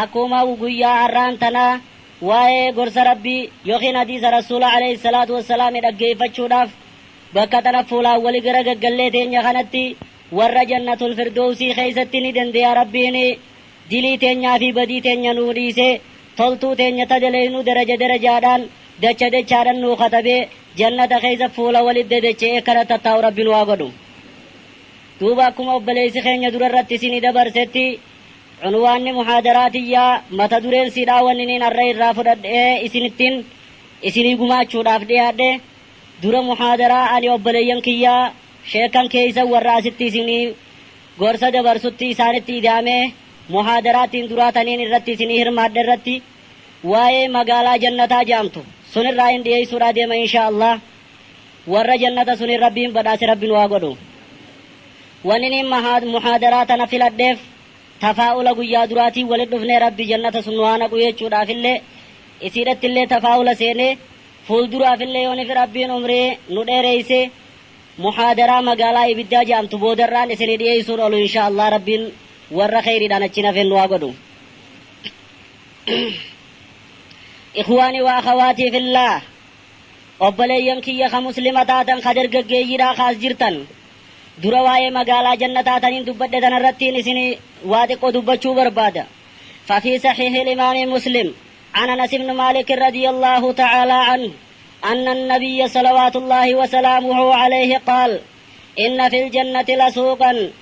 Akkuma guyyaa har'aan tana waa'ee gorsa Rabbii yookiin hadiisa Rasuula aleyhi salaatu wassalaami dhaggeeyfachuudhaaf bakka tana fuulaan wali gara gaggallee teenya kanatti warra jannatul firdoowsii keeysatti ni dandeeya Rabbiin dilii teenyaa fi badii teenya nuu dhiisee toltuu teenya ta daleeynu daraja darajaadhaan dacha dachaadhan nuu katabee jannata keeysa fuula walit dadacha'ee kana tattaa'u Rabbi nu haa godhu. Duuba akkuma obboleeysi keenya dura irratti isinii dabarsetti Cunwaanni muhaadaraa tiyyaa mata dureen siidhaa wanniniin arra irraa fudhadhee isinittin isinii gumaachuudhaaf dhiyaadhe dura muhaadaraa ani obboleeyyan kiyya sheekkan keeysan warra asitti isinii gorsa dabarsutti isaanitti idaamee muhaadaraa tiin duraa taniin irratti isinii hirmaadhe irratti waayee magaalaa jannataa jaamtu sunirraa hin dhiyeeysuudhaa deema inshaa allaah Warra jannata suniin Rabbiin badhaase Rabbi nu haa godhu. Waniniin mahaa, muhaadaraa tana filadheef tafaa'ula guyyaa duraatiin walitti dhufnee Rabbi jannata sun nu haa naqu jechuudhaafillee isiidhattillee tafaa'ula seenee fuulduraafillee yoo nifi Rabbiin umrii nu dheereeyse muhaadaraa magaalaa ibiddaa ja'amtu boodarraan isinii dhiyeeysuun olu inshaa Allah Rabbiin warra kheyriidhaan achiin hafeen nu haa godhu. Ikhwaanii wa akhawaatiif illaa. Obboleeyyan kiyya ka Muslima taatan ka dargaggeeyyiidhaa ka as jirtan, dura waa'ee magaalaa jannataa taniin dubbadhe tana irrattiin isinii waa xiqqoo dubbachuu barbaada. Fafii sahiihil imaami Muslim an Anas ibnu Maalik radiyallaahu ta'aalaa anhu anna annabiyya salawaatullaahi wa salaamuhu alayhi qaal, inna fil jannati lasuuqan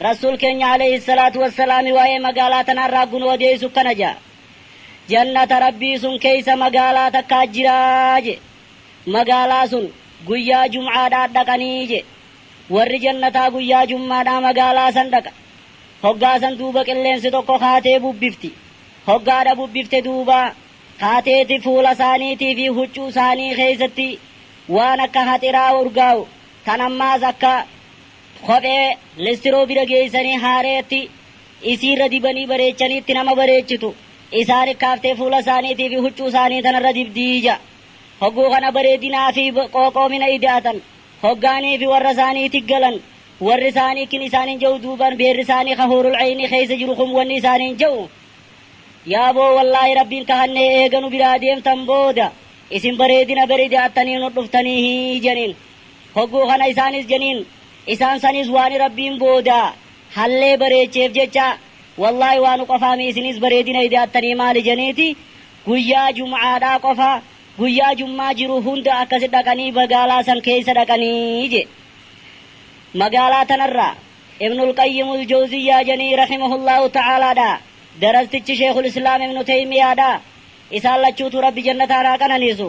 Rassuul keenya Aleeyhi salaatu wassalaami waa'ee magaalaa tanaa irraa gun odeeysu akkana ja'a. Jannata Rabbii sun keeysa magaalaa takkaa jira je. Magaalaa sun guyyaa jum'aadhaa dhaqanii je. Warri jannataa guyyaa jummaadhaa magaalaa san dhaqa. Hoggaa san duuba qilleensi tokko kaatee bubbifti. Hoggaadha bubbifte duuba kaateeti fuula saaniitii fi huccuu saanii keeysatti waan akka haxiraa urgaawu tan ammaas akka Kophee listiroo bira geessanii haareetti isiirra dibanii bareechanii itti nama bareechitu. Isaa rikkaaftee fuula isaaniitii fi huccuu isaanii tanarra dibdi ja'a. Hogguu kana bareedinaa fi qooqoomina ida'atan. Hoggaanii fi warra isaanii tiggalan. Warri isaanii kin isaaniin ja'u duuban beerri isaanii ka huurul eeynii keeysa jiru kun wanni isaaniin ja'u, Yaa boo wallaahi Rabbiin kahannee eega nu biraa deemtan booda isin bareedina ber ida'attanii nu dhuftaniihii janiin. Hogguu kana isaanis janiin isaan sanis waani Rabbiin booda hallee bareecheef jecha wallaahi waanu qofaa mii isinis bareedina ida'attanii maali janiiti guyyaa jum'aadhaa qofa guyyaa jummaa jiru hunda akkasi dhaqanii bagaalaa san keeysa dhaqanii je magaalaa tanarraa ibnul qayyimul jawziyyaa janii rahimahullaahu ta'aalaadhaa darastichi sheekhul islaam ibnu teymiyaadhaa isaan lachuutu rabbi jannataan haa qananiisu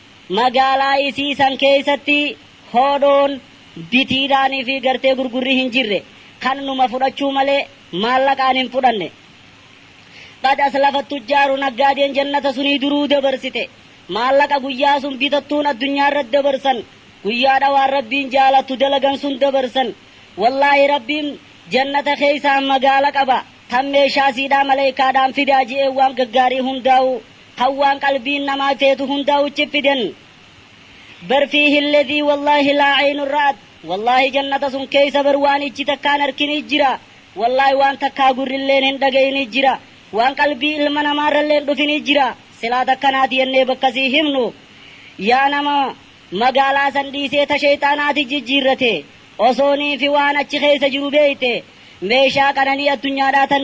Magaalaa isii san keessatti hoodhoon, bitiidhaan fi gartee gurgurri hin jirre. Kan numa fudhachuu malee maallaqaan hin fudhanne. Qad aslafat tujjaaru naggaadeen jannata sunii duruu dabarsite. Maallaqa guyyaa sun bitattuun addunyaa irratti dabarsan, guyyaadha waan Rabbiin jaalattu dalagan sun dabarsan. Wallaahi Rabbiin jannata keessaa magaala qaba, tan meeshaa siidhaa maleeykaadhaan fidaa je'ee waan gaggaarii hundaa'uu Kan waan qalbiin namaa teetu hundaa'u chippiden. Bar fiihi alladhii wallaahi laa aynun ra'at wallaahi jannata sun keeysa bar waan ijji takkaa hin arkinii jira, wallaahi waan takkaa gurrilleen hin dhagayinii jira, waan qalbii ilma namaarrallee hin dhufinii jira, silaa takkanaati jennee bakka sii himnu yaa nama magaalaa san dhiisee ta sheyxaanaati jijjiirrate osoo niifi waan achi keeysa jiru beeyte meeshaa qananii addunyaadhaa tan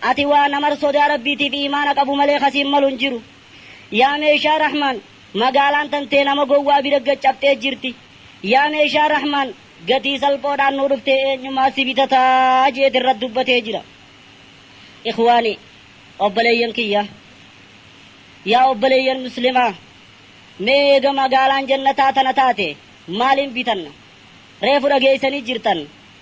Ati waa namar sodaa Rabbiitiif iimaana qabu malee ka siin malu hin jiru. Yaa meeshaa Rahmaan! Magaalaan tantee nama gowwaa bira gad cabxee jirti. Yaa meeshaa Rahmaan! Gatii salphoodhaan nuu dhuftee eenyumaa si bitata? je'eeti irratti dubbatee jira. Ikhwaanii! Obboleeyyan kiyya! Yaa obboleeyyan Muslimaa! Mee eega magaalaan Jannataa tana taate maaliin bitanna? Reefu dhageeysanii jirtan.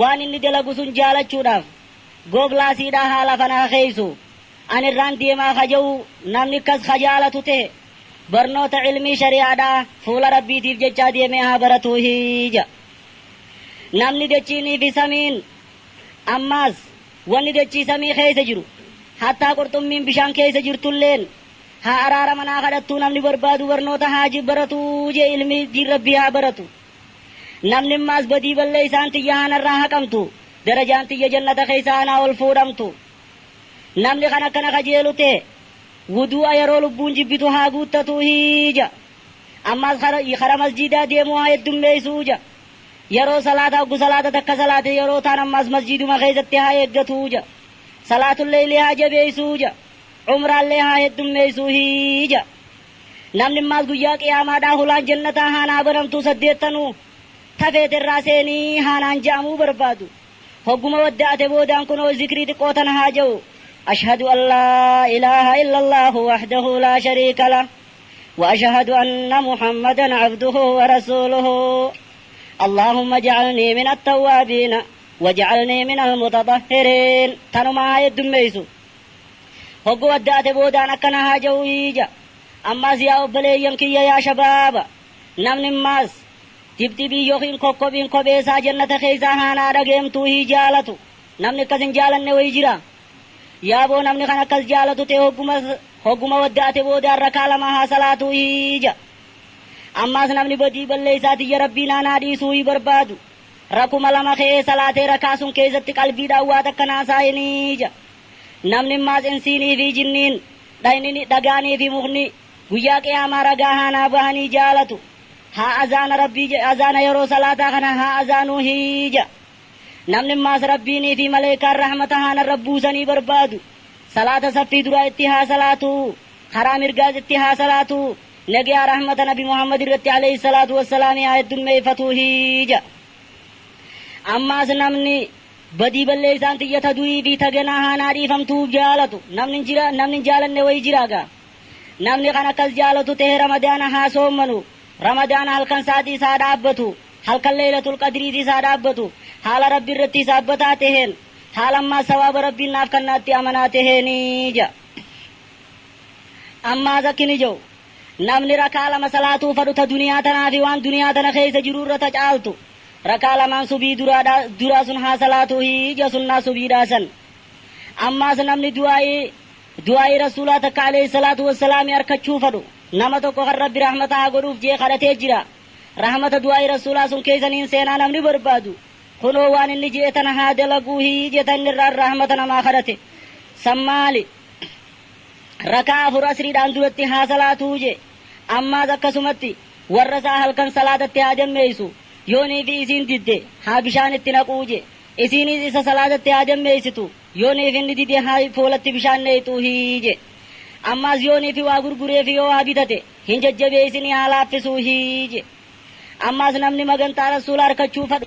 Waan inni dalagu sun jaalachuudhaaf googlaasiidhaa haala kana ha keeysu. An irraan deemaa ka je'u namni akkas ka jaalatu tehe barnoota ilmii shari'aadhaa fuula Rabbiitiif jechaa deemee haa baratuuhi je'a. Namni dachiinii fi samiin ammaas wanni dachii samii keeysa jiru hattaa qurxummiin bishaan keeysa jirtulleen haa araaraman haa kadhattuu namni barbaadu barnoota haa baratu je'e ilmii diin Rabbii haa baratu. Namni ammaas badii balleeysaan tiyya ana irraa haqamtu, darajaan tiyya jannata keeysaa anaa ol fuudhamtu. Namni kan akkana kajeelu tahe, wuduu'a yeroo lubbuun jibbitu haa guuttatuuhi ja. Ammaas kara masjiidaa deemuu haa heddummeeysu ja. Yeroo salaataa hoggu salaata takka salaate yeroo taan ammaas masjiiduma keeysatti haa eeggatu ja. Salaatul leeylii haa jabeeysuu ja. Umraallee haa heddummeeysuuhi ja. Namni mmaas guyyaa qiyaamaadhaa holaan jannataa haa naa banamtuu saddeettanuu ta feete irraa seeni haa naan je'amuu barbaadu. Hogguma wadda'ate boodaan kunoo zikrii xiqqoo tana haa je'u, Ashhadu an laa ilaaha illallaahu wahdahu laa shariika lah, wa ashahadu anna Muhammadan abduhu wa rasuuluhu. Allaahumma ja'alnii min attawwaabiina, wa ja'alnii minal mutaxahhiriin. Tanuma haa heddummeeysu. Hoggu addaate boodaan akkana haaja'u iija. Ammaas yaa obboleeyyan kiyya yaa shabaaba! Namni mmaas, dibdibii yookiin kokkobhiin kophee isaa jannata keeysaa haa naa dhageemtuu hii jaalatu. Namni akkas hin jaalanne wayi jira? Yaaboo namni kan akkas jaalatu ta'e hogguma, hogguma waddaate boodaan rakaa lama haa salaatuu iija. Ammaas namni badii balleeysaa tiyya Rabbii naa naa dhiisuu hii barbaadu, rakuma lama ka'ee salaatee rakaa sun keeysatti qalbiidhaan waa takka naa saayiniija. Namni immaas insiinii fi jinniin, dhaynini, dhagaanii fi mukni, guyyaa qiyaamaa ragaa haa naa bahanii jaalatu, haa azaana Rabbii je, azaana yeroo salaataa kana haa azaanuu hii ja. Namni immaas Rabbiinii fi maleeykaan rahmata haa narra buusanii barbaadu, salaata saffii duraa itti haa salaatu, karaa mirgaas itti haa salaatu, nageyaa rahmata nabi Muhammad irratti aleyhi salaatu wassalaami haa heddummeeyfatu hii ja. Ammaas namni. Badii balleeysaan tiyya ta du'ii fii ta ganaa haa naa dhiifamtu'uuf jaalatu namni hin jira, namni hin jaalanne wayi jiraa gaa? Namni kan akkas jaalatu tahe Ramadaana haa soommanu, Ramadaana halkan saatiis haa dhaabbatu, halkan Leeylatul Qadriitiis haa dhaabbatu, haala Rabbi irratti hisaabbataa taheen, haala ammaas sawaaba Rabbiin naaf kannaatti amanaa taheeni ja'a. Ammaas akki inni ja'u, Namni rak'aa lama salaatuu fadhu ta duniyaa tanaa fii waan duniyaa tana keeysa jiru irra ta caaltu, Rak'aa lamaan subii duraadha, duraa sun haa salaatuu hi ija sunnaa subiidhaa san. Ammaas namni du'aa'ii, du'aa'ii Rasuulaa takka aleyh salaatu wassalaami arkachuu fadhu, nama tokko kan Rabbi rahmata haa godhuuf je'e kadhatee jira. Rahmata du'aa'ii Rasuulaa sun keeysa niin seenaa namni barbaadu, kunoo waan inni je'e tana haa dalaguu hi jeta inni irraan rahmata namaa kadhate. San maali? Rak'aa afur asriidhaan duratti haa salaatuu je'e. Ammaas akkasumatti. Warra isaa halkan salaatatti haa jammeeysu, yoo niifii isiin didde haa bishaan itti naquu je, isiiniis isa salaatatti haa jammeeysitu, yoo niif inni dide haa foolatti bishaan neyxuuhi je. Ammaas yoo niifi waa gurgureefi yoo waa bitate hin jajjabeeysinii haa laaffisuuhi je. Ammaas namni magantaa Rasuula arkachuu fadhu.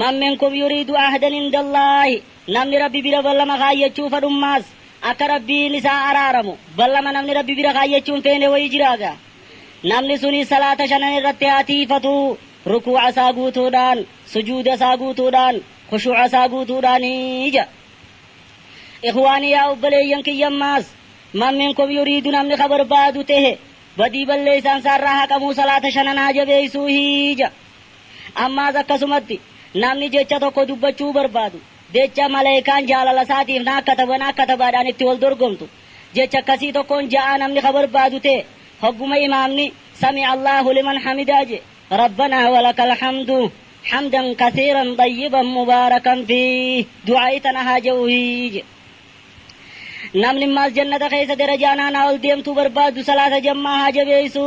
Man minkum yuriidu ahdan indallaahi Namni Rabbi bira ballama kaayyachuu fadhummaas akka Rabbiin isaa araaramu ballama namni Rabbi bira kaayyachuu hin feene wayii jiraa gaa? Namni suni salaata shanan irratti haa tiiyfatu, rukuu'a isaa guutuudhaan, sujuuda isaa guutuudhaan, khushuu'a isaa guutuudhaani ja'a. Ikhwaanii yaa obboleeyyan kiyya ammaas Man minkum yuriidu namni ka barbaadu tehe badii balleeysaan isaa irraa haqamuu salaata shanan haa jabeeysuu hii ja'a. Ammaas akkasumatti, namni jecha tokko dubbachuu barbaadu, jecha Malaykaan jaalala isaatiif naaf kataba naaf katabaadhaan itti wal dorgomtu, jecha akkasii tokkoon ja'aa namni ka barbaadu ta'e, hogguma imaamni, Sami'a Allaahu liman hamidaa je, Rabbanaa walakal hamdu, hamdan kathiiran xayyiban mubaarakan fiih, du'aa'ii tana haa ja'uuhi je. Namni ammaas jannata keessa darajaan aanaa ol deemtuu barbaadu salaata jammaa haa jabeessu.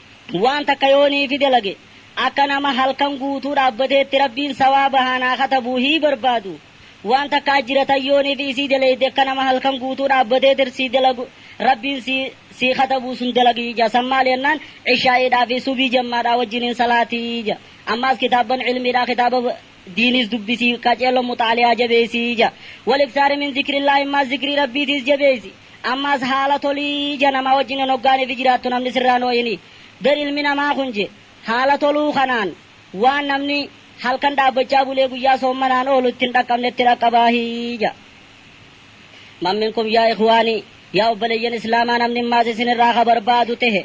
Waan takka yoo niifi dalage, akka nama halkan guutuu dhaabbateetti Rabbiin sawaaba haa naa katabu hii barbaadu. Waan takka ajjira tan yoo niifi isii daleyde akka nama halkan guutuu dhaabbatee tirsii dalagu Rabbiin sii sii katabu sun dalagi ja. San maali jennaan, Ishaa'iidhaa fi subii jammaadhaa wajjiniin salaati ja. Ammaas kitaabban ilmiidhaa kitaaba diiniis dubbisi, qaceello muxaali'aa jabeeysi ja. Wal-iksaari min zikrillaahi ammaas zikrii Rabbiitiis jabeeysi. Ammas haala tolii ija namaa wajjin hin hoggaanifi jiraattu namni sirraa hin hoo'ini. Ber ilmi namaa kun je, haala toluu kanaan waan namni halkan dhaabbachaa bulee guyyaa soommanaan oolu itti hin dhaqqabnetti dhaqqabaahi ja. Man minkum yaa ikhwaani, yaa obboleeyyan Islaamaa namni ammaas isin irraa ka barbaadu tehe,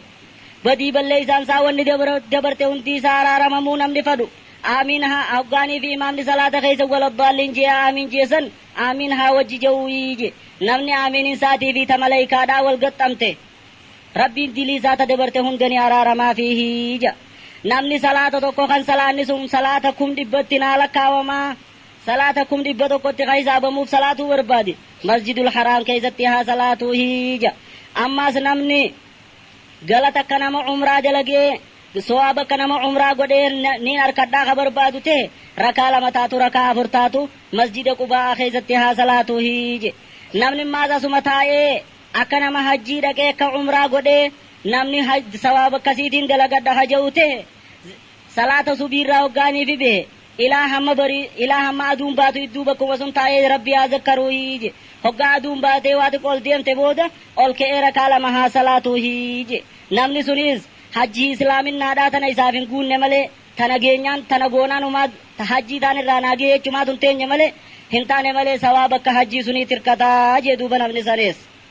badii balleeysaan isaa wanni dabra, dabarte hundii isaa araaramamuu namni fadhu, aamiin haa hoggaaniifi imaamni salaata keeysa wala ddaalliin je'aa aamiin je'e san, Aamiin haa wajji je'uu iyyi. Namni aamiin insaatii fi ta malaykaadhaa wal gaxxamte, Rabbiin dilii isaa ta dabarte hunda ni araaramaafiihi je'a. Namni salaata tokko kan salaanni sun salaata kum dhibbatti naa lakkaawama, salaata kum dhibba tokkotti ka hisaabamuuf salaatuu barbaade, Masjidul Haraam keessatti haa salaatuuhi je'a. Ammaas namni. Galata akka nama umraa dalagee, sowaaba akka nama umraa godhee niin arkadhaa ka barbaadu tehe, rak'aa lama taatu rak'aa afur taatu masjida Qubaa'aa keessatti haa salaatuuhi je. Namni mmaas asuma taa'ee akka nama hajjii dhaqee akka umraa godhee namni sawaaba akkasiitiin dalagadha ka je'u tehe, salaata subiirraa hoggaa nifi behe, Ilaa hamma bari, ilaa hamma aduun baatu idduu bakkuma sun taa'ee Rabbi haa zakkaruuhi je. Hoggaa aduun baatee waa xiqqo ol deemte booda, ol ka'ee rakaa lama haa salaatuuhi je. Namni suniis, hajjii islaaminnaadhaa tana isaaf hin guunne malee, ta nageenyaan, tana goonaan humaa, ta hajjii taan irraa naa gahe jechumaa tun teenye malee, hin taane malee sawaaba akka hajjii suniit hirkata je duuba namni saniis.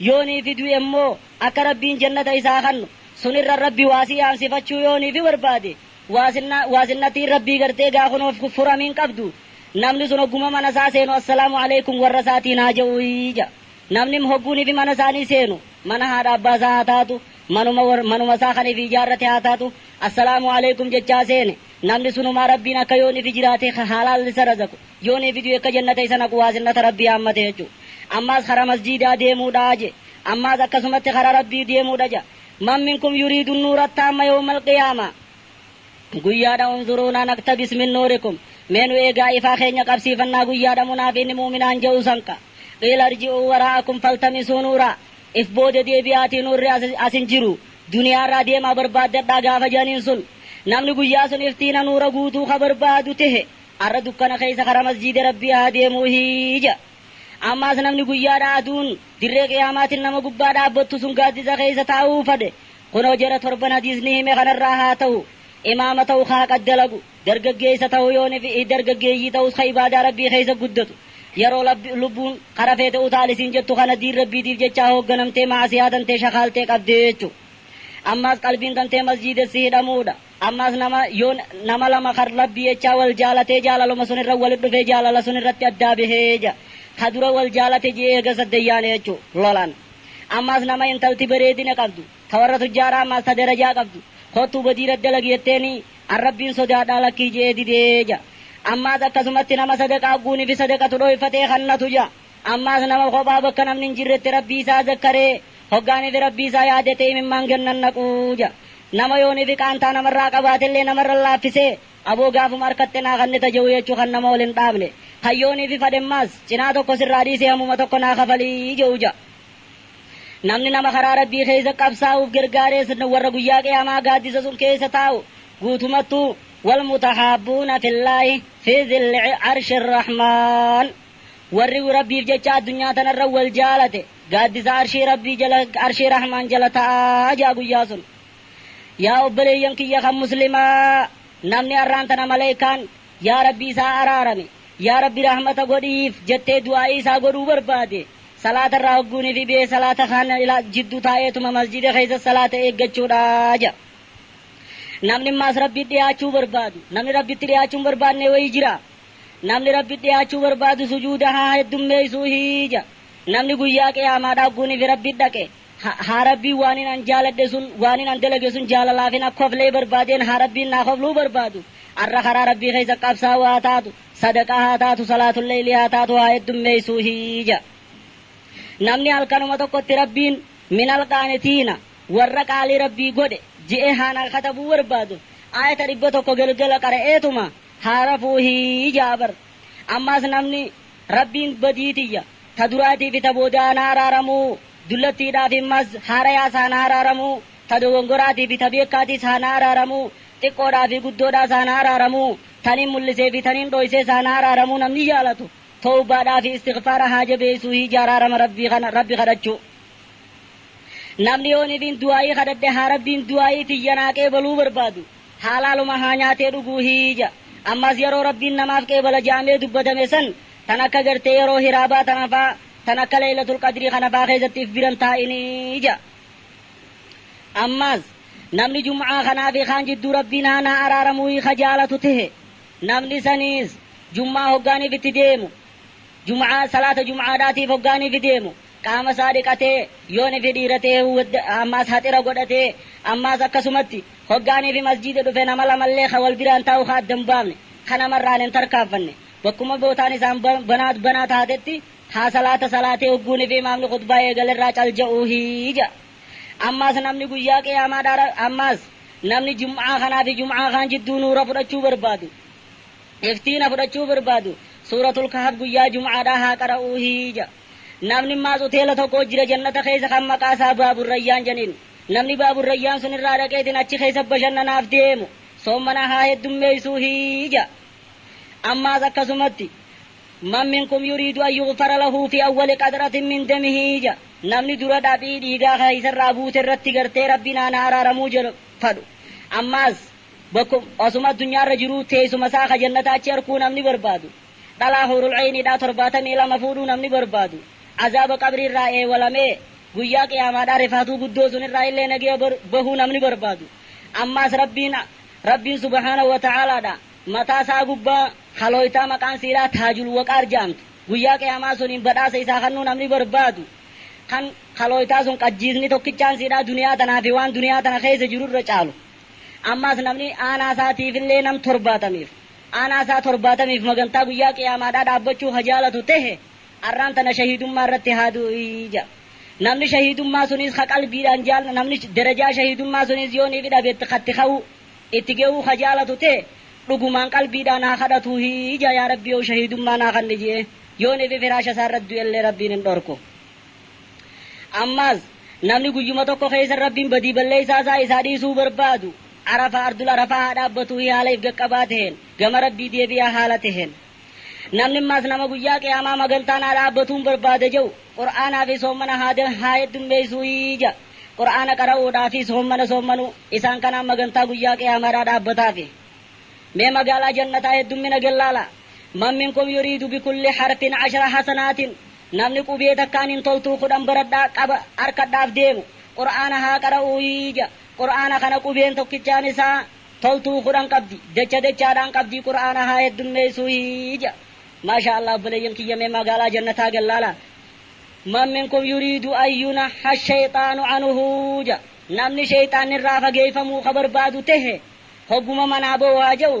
Yoo niifi du'e immoo akka Rabbiin jannata isaa kannu, sun irra Rabbi waasii yaamsifachuu yoo niifi barbaade, waasinna, waasinnattiin Rabbii gartee gaa kunoo fi furami hin qabdu. Namni sun hogguma mana isaa seenu Assalaamu Aleykum warra isaatiin haa ja'uuyi ja'a. Namnim hogguu nifi mana isaanii seenu, mana haadha abbaa isaa haa taatu, manuma war, manuma isaa kan ifi ijaarrate haa taatu, Assalaamu Aleykum jechaa seene, namni sunumaa Rabbiin akka yoo nifi jiraate ka haalaalli isa razaqu, Yoo nee fiduu ekka jannata isa naquu haasinnata Rabbii haammate jechu. Ammaas kara masjiidaa deemuu dha je. Ammaas akkasumatti kara Rabbii deemuu dha ja. Man minkum yuriidu nnuura attaamma yawmal qiyaama. Guyyaa dha unzuruunaa naktabis min nuurikum. Mee nu eegaa ifaa keenya qabsiifannaa guyyaa dha munaafiinni mu'uminaan je'u san ka. Qiila irji'uu waraa'akum faltamisuu nuuraa. If booda deebi'aatii nuurri as as hin jiru. Duniyaa irraa deemaa barbaaddadhaa gaafa je'aniin sun. Namni guyyaa sun iftiina nuura guutuu ka barbaadu tehe. Arra dukkana keessa karaa masjiida Rabbii haa deemuu hija. Ammaas namni guyyaadhaa aduun dirree qiyaamaatin nama gubbaa dhaabbottu sun gaaddisa keessa taa'uu fadhe kunoo jara torban hadiisni hime kanarraa haa tahu, imaama tahu ka haqa dalagu, dargaggeessa tahu yoo ni fi dargaggeeyyii tahus ka ibaadaa Rabbii keessa guddatu. Yeroo Rabbi, lubbuun, kara feete utaali siin jettu kana diin Rabbiitiif jecha hoogganamtee ma'asiyaa tantee shakaaltee qabdee jechu. Ammaas qalbiin tantee masjiidessi hidhamuudha. Ammaas nama, yoo, nama lama kan Rabbii jechaa wal jaalatee jaalaluma sun irra walit dhufee jaalala sun irratti addaa bahee ja, ka dura wal jaalate ji'ee eegas addan yaane jechu, lolan. Ammaas nama intalti bareedina qabdu, ta warra tujjaaraa ammaas ta darajaa qabdu, kottuu badii irra dalagi jetteenii, an Rabbiin sodaadhaa lakkii je'ee didee ja. Ammaas akkasumatti nama sadaqaa guuni fi sadaqatu dhooyfatee kannatu ja. Ammaas nama kophaa bakka namni hin jirretti Rabbii isaa zakkaree, hoggaa nifi Rabbii isaa yaadate imimmaan gad nannaqu ja. Nama yoo nifi qaantaa namarraa qabaatellee namarra laaffisee, aboo gaafuma harkatte naa kannita je'u jechu kan nama ol hin dhaabne, kan yoo nifi fadhemmaas cinaa tokko sirraa dhiisee hamuma tokko naa kafali je'u ja. Namni nama karaa Rabbii keeysa qabsaawuuf gargaarees warra guyyaa qiyaamaa gaaddisa sun keeysa taa'u guutumattuu, Wal-mutahaabbuuna fillaahi fii zilli arshi rrahmaan. Warri Rabbiif jecha addunyaa tanarra wal jaalate gaaddisa Arshii Rabbii jala, Arshii Rahmaan jala ta'a ja'a guyyaa sun. Yaa obboleeyyan kiyya kan Muslimaa! Namni arraan tana malaykaan Yaa Rabbi isaa araarami, Yaa Rabbi rahmata godhiif jettee du'aa'ii isaa godhuu barbaade, salaata irraa hogguu ni fibee salaata kaan jidduu taa'eetuma masjiida keessa salaata eeggachuudha ja'a. Namni ammaas Rabbiif dhiyaachuu barbaadu, namni Rabbitti dhiyaachuu hin barbaadne wayii jiraa? Namni Rabbitti dhiyaachuu barbaadu sujuuda haa heddummeeysuu hii ja. Namni guyyaa qiyaamaa dhaagguuniif Rabbitti dhaqe, ha, haa Rabbiin waanin an jaaladhe sun, waanin an dalage sun jaalalaafin akka koflee barbaadeen haa Rabbiin naa kofluu barbaadu, arra karaa Rabbii keeysa qabsaawaa haa taatu, sadaqaa haa taatu, salaatul leeylii haa taatu haa heddummeeysuu hii ja. Namni halkanuma tokkotti Rabbiin, minal qaanitiina, warra qaalii Rabbii godhe, je'ee haa naa katabuu barbaadu, aayata 100 galgala qara'eetuma, haa rafuuhi ja'a bar. Ammaas namni, Rabbiin badii tiyya, ta duraatii fi ta boodaa na araaramu, dullattiidhaa fi mas haarayaas haa na araaramu, ta dogongoraatii fi ta beekkaatiis haa na araaramu, xiqqoodhaa fi guddoodhaas haa na araaramu, taniin mul'isee fi taniin dhooysees haa na araaramu namni jaalatu, towbaadhaa fi istighfaara haa jabeeysuuhi ja'a araarama Rabbii kana, Rabbi kadhachuu. Namni yoon ifiin du'aa'ii kadhadhe haa Rabbiin du'aa'ii tiyya naa qeebaluu barbaadu. Halaaluma haa nyaatee dhuguu hii ja. Ammas yeroo Rabbiin namaaf qeebala ja'amee dubbatame san tan akka gartee yeroo hiraabaa tana faa tan akka laylatul qadrii kana faa keessatti if biran taa'inii ja. Ammas namni jum'aa kanaa fi kaan jidduu Rabbiin haa naa araaramuuhii ka jaalatu tehe namni saniis jum'aa hoggaaniif itti deemu jum'aa salaata jum'aadhaatiif hoggaaniif deemu qaama isaa dhiqatee, yoo nifi dhiira ta'e wud, ammaas haxira godhatee, ammaas akkasumatti, hoggaa nifi masjiida dhufe nama lamallee ka wal biraan taa'u ka adda hin baafne, ka namarraan hin tarkaanfanne, bakkuma bootaan isaan banaa banaa taatetti, haa salaata salaatee hogguu nifi imaamni khutbaa eegale irraa cal ja'uuhi ja'a. Ammaas namni guyyaa qiyaamaadhaa ra, ammaas namni jum'aa kanaa fi jum'aa kaan jidduu nuura fudhachuu barbaadu, iftiina fudhachuu barbaadu, suuratul kahf guyyaa jum'aadhaa haa qara'uuhi ja'a. Namni maas uteela tokko jira jannata keessa kan maqaa isaa Baabur Rayyaan janiin. Namni Baabur Rayyaan sun irraa dhaqeetiin achi keessa bashannanaaf deemu soommana haa heddummeeysuuhi ja'a. Ammaas akkasumatti Man minkum yuriidu an yughfara lahu fi awwali qatratin min damihi ja'a. Namni dura dhaphii dhiigaa ka isa irraa buute irratti gartee Rabbi naan haa araaramuu jedhu fadhu. Ammaas bakkum osuma addunyaa irra jiruu teeysuma isaa ka jannataa achi arkuu namni barbaadu. Dhalaa Huurul Ayniidhaa 72 fuudhuu namni barbaadu, Azaaba Qabrii irraa eewalamee Guyyaa Qiyaamaadhaa rifaatuu guddoo sun irraa illee nagaya bahuu namni barbaadu, ammaas Rabbiin, Rabbiin subhaanahu wa ta'aalaadhaa mataa sa'aa gubbaa halooytaa maqaan siidhaa Taajul Waqaar ja'amtu Guyyaa Qiyaamaa suniin badhaasa isaa kannuu namni barbaadu, kan halooytaa sun qajjiisni tokkichaan siidhaa duniyaa tanaa fi waan duniyaa tana keessa jiru irra caalu, ammaas namni aanaa isaa tiif illee nam torbaatamiif Aanaa isaa torbaatamiif magantaa guyyaa qiyaamaadhaa dhaabbachuu ka jaalatu tehe arraan tana shahiidummaa irratti haa du'u'i ja'a. Namni shahiidummaa suniis ka qalbiidhaan jaal namni darajaa shahiidummaa suniis yoo niifi dhabe itti ka itti ka'uu itti geyuu ka jaalatu tehe dhugumaan qalbiidhaan haa kadhatuuhi ja'a yaa Rabbiyow shahiidummaa naa kanni je'ee yoo niifi firaasha isaa irratti du'ellee Rabbiin hin dhorku. Ammaas, namni guyyuma tokko keessa Rabbiin badii balleessaa isaa isaa dhiisuu barbaadu, Arafaa, Ardul Arafaa, haa dhaabbatu hi haala if gaqqabaa taheen, gama Rabbii deebi'aa haala taheen. Namni ammaas nama guyyaa qiyaamaa magantaa naa dhaabbatuun barbaada ja'u, Qur'aanaa fi soommana haa da, haa heddummeeysuuyi ja'a. Qur'aana qara'uudhaa fi soommana soommanuu, isaan kanaan magantaa guyyaa qiyaamaadhaa dhaabbataafi. Mee magaalaa jannataa heddummina gellaalaa. Man minkum yuriidu bikulli harfin ashra hasanaatin. Namni qubee takkaan hin toltuu kudhan baradhaa, qaba, arkadhaaf deemu, Qur'aana haa qara'uu ija, Qur'aana kana qubeen tokkichaan isaa toltuu kudhan qabdi, dacha dachaadhaan qabdii Qur'aana haa heddummeessuu ija. Maashaa Allah obboleeyyan kiyya mee magaalaa jannataa gad laalaa. Man minkum yuriidu an yunaha shayxaanu anuhu ja. Namni sheyxaanni irraa fageeyfamuu ka barbaadu tehe hogguma manaa bahu haa ja'u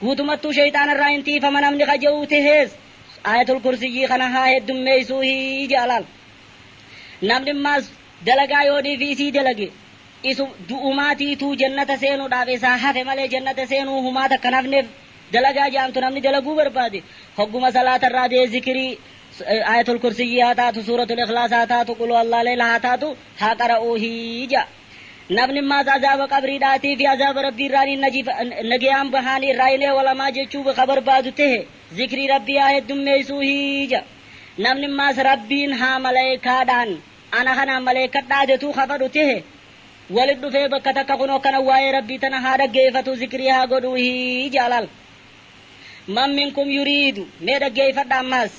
Guutumattuu sheyxaanarraa hin tiifama namni ka je'u tehees, Aayatul Kursiyyii kana haa heddummeeysuuhi je'a laal. Namni maas dalagaa yoonii fi isii dalage, isu du'umaatiituu jannata seenuudhaaf isaa hafe malee jannata seenuu humaa takka hin hafneef. Dalagaa je'amtu namni dalaguu barbaade, hogguma salaatarraa de'e zikirii, Aayatul Kursiyyii haa taatu, Suuratul Ikhlaas haa taatu, Qul Huwallaahu Leeyla haa taatu, haa qara'uuhi je'a. Namni ammaas azaaba qabriidhaatii fi azaaba Rabbii irraa ni najifa, nageyaan baha, ni irraa hin eewalama jechuu ka barbaadu tehe, zikrii Rabbii haa heddummeeysuu hiija. Namni ammaas Rabbiin haa maleeykaadhaan ana kanaan maleeykadhaa jetuu ka kadhu tehe, walit dhufee bakka takka kunoo kana waayee Rabbii tana haa dhaggeeyfatuu zikrii haa godhuu hiija laal. Man minkum yuriidu mee dhaggeeyfadha ammaas.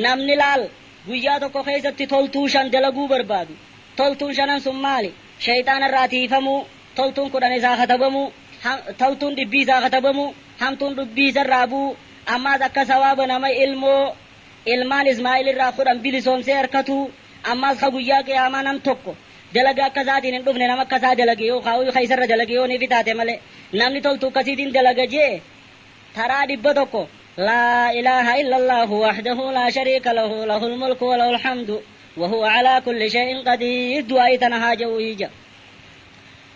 Namni laal guyyaa tokko keeysatti toltuu shan dalaguu barbaadu, Toltuun shanan sun maali? Sheyxaana irraa tiiyfamuu, toltuun kudhan isaa katabamuu, ha, toltuun dhibbii isaa katabamuu, hamtuun dhubbii isa irraa bu'uu, ammaas akka sawaaba nama ilmoo, ilmaan Ismaa'il irraa kudhan bilisoomsee arkatuu, ammaas ka guyyaa qiyaamaa nam tokko dalaga akka isaatiin hin dhufne nama akka isaa dalage yookaa uy ka isa irra dalage yoo nifi taate malee, namni toltuu akkasiitiin dalaga je'e, Taraa 100, Laa ilaaha illallaahu wahdahu laa shariika lahu lahul mulku wa lahul hamdu wa huwa calaa kulli shay'in qadiir du'aa'ii tana haa ja'uuyii ja'a.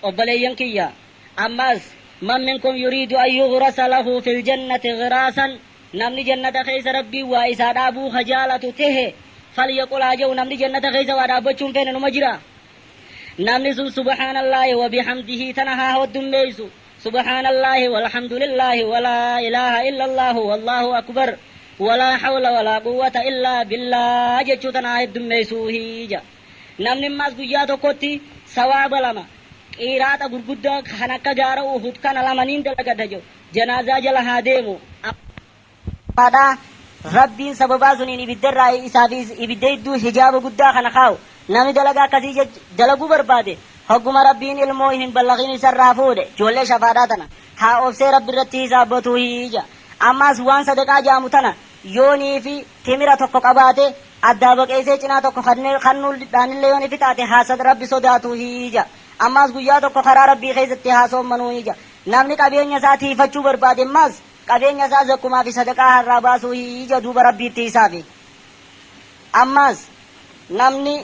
Obboleeyyan kiyya! Ammaas Man minkum yuriidu an yughrasa lahu fil jannati ghiraasan Namni jannata keessa Rabbiin waa isaa dhaabuu ka jaalatu tehe falyaqul haa ja'u Namni jannata keessa waa dhaabbachuu hin feene numa jiraa? Namni sun subhaanallaahi wa bihamdihi tana haa hoddummeeysu Subhaanallaahi walhamdulillaahi walaa ilaaha illallaahu wallaahu akbar walaa hawla walaa quwwata illaa billaah jechuu tana haa heddummeeysuu hiija namni ammaas guyyaa tokkotti sawaaba lama qiiraaxa gurguddaa kan akka gaara uhud kana lamaniin dalagata je'u janaazaa jala haa deemu Dhugaadha, Rabbiin sababaa suniin ibidda irraa isaa fi ibidda jidduu hijaaba guddaa kana kaa'u. Namni dalagaa akkasii jaj, dalaguu barbaade, hogguma Rabbiin ilmoo hin ballaghin isa irraa fuudhe, ijoollee shafaadhaa tana, haa obsee Rabbi irratti hisaabbatuuhi ja. Ammaas waan sadaqaa ja'amu tana, yoo nii fi timira tokko qabaate, addaa baqeysee cinaa tokko kennee kannuu dhaanillee yoo ifi taate haa sad, Rabbi sodaatuuhi ja. Ammaas guyyaa tokko karaa Rabbii keeysatti haa soommanuuhi ja. Namni qabeenya isaa tiiyfachuu barbaade ammaas, Qabeenya isaa zakkumaa fi sadaqaa harraa baasuu hi ija duuba Rabbiitti hisaabi. Ammaas namni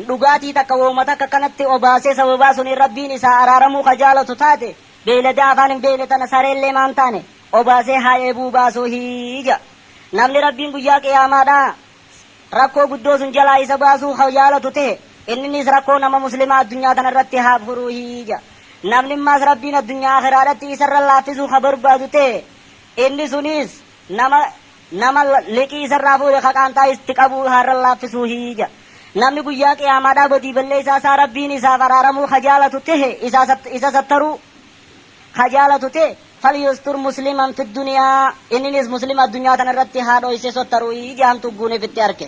dhugaatii takka wooma takka kanatti obaasee sababaa suniin Rabbiin isaa araaramuu ka jaalatu taate beeyladaa afaan hin beeyne tana sareellee maan taane obaasee haa eebuu baasuu hi ija. Namni Rabbiin guyyaa qiyaamaadhaa rakkoo guddoo sun jalaa isa baasuu ka jaalatu tehe, inninis rakkoo nama muslimaa addunyaa tana irratti haa furuuhi jedha. Namni ammaas Rabbiin addunyaa aakhiraadhatti isa irra laaffisuu ka barbaadu tehe, inni sunis nama nama liqii isa irraa fuudhe ka qaantaa itti qabu haa irra laaffisuuhi jedha. Namni guyyaa qiyaamaadhaa badii balleessaa isaa Rabbiin isaaf araaramuu ka jaalatu tehe, isa isa sattaruu, Ka jaalatu ta'e, Falyustur musliman fi duniyaa, inninis muslima addunyaa tana irratti haa dhooysee sottaru'ii jaamtu ugguun ifitti arke.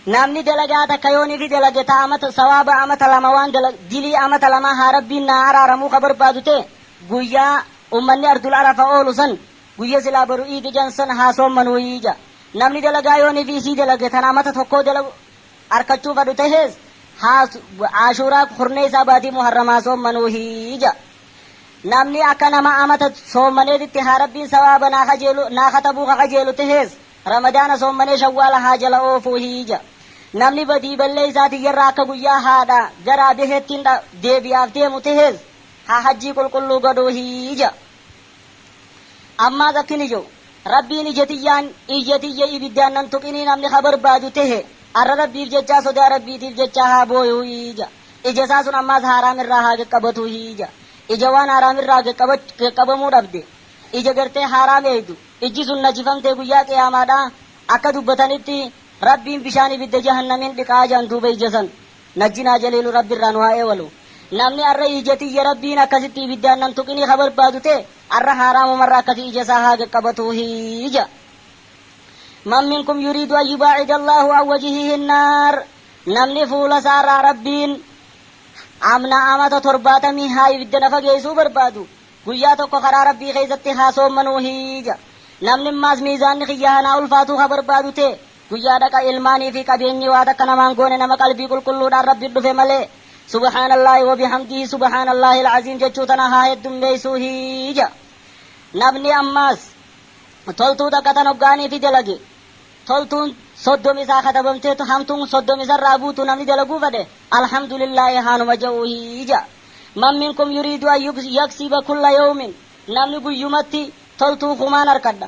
Namni dalagaa takka yoon ifi dalage ta amata, sawaaba amata lama waan dala, dilii amata lamaa haa Rabbiin naa araaramuu ka barbaadu ta'e, guyyaa ummanni ardul arafa oolu san, guyya silaa boru iidi je'an san haa soommanu'ii ja'a. Namni dalagaa yoon ifi isii dalage tan amata tokkoo dalagu, arkachuu fadhu tahees haa Aashuuraa kurneeysaa baatii Muharramaa soommanuuhi ja'a. Namni akka nama amata soommaneetitti haa Rabbiin sawaaba naa kajeelu naa katabuu ka kajeelu tahees Ramadaana soommanee Shawwaala haa jala oofuuhi ja'a. Namni badii balleeysaa tiyyarraa akka guyyaa haadha garaa beheettiin deebi'aaf deemu tahees haa hajjii qulqulluu godhuuhi ja'a. Ammaas akkini je'u, Rabbiin ija tiyyaan, iyya tiyya ibiddaan nan tuqinii namni ka barbaadu tehe, arra Rabbiif jechaa sodaa Rabbiitiif jechaa haa booyu'u'i je'a. Ija isaa sun ammaas haaraam irraa haa gaqqabatuuhi je'a. Ija waan haaraam irraa gaqqabamuu dhabde, ija gartee haaraam eeydu, ijji sun najifamtee guyyaa qiyaamaadhaa akka dubbatanitti Rabbiin bishaan ibidda jahannamiin dhiqa'a je'an duuba ija san. Najjinaa jaliilu rabbi irraa nu haa eewalu namni arra iijatii ya rabbiin akkasitti ibiddaan nan tuqinii ka barbaadu ta'e arra haaraamumarra akkati ija isaa haa gaqqabatuu hii ja man minkum yuriidu an yubaacida allaahu an wajihihi nnaar namni fuula isaa irraa rabbiin amna amata torbaatamii haa ibidda na fageeysuu barbaadu guyyaa tokko karaa rabbii keeysatti haa soommanuu hii ja namni immaas miizaanni kiyya haa naa ulfaatuu ka barbaadu ta'e Guyyaa dhaqa ilmaanii fi qabeenyi waa takka namaan goone nama qalbii qulqulluudhaan Rabbi dhufe malee. Subhaanallaahi wa bihamdihi Subhaanallaahil aziim jechuu tana haa heddummeeysuuhi ja'a. Namni ammaas toltuu takka tan hoggaanii fi dalage toltuun soddomi isaa katabamtee tu hamtuun soddomi isarraa buutu namni dalaguu fedhe Alhamdulillaahi haanuma ja'uuhi ja'a. Man minkum yuriidu an yaksiba kulla yawmin Namni guyyumatti toltuu kumaan arkadha.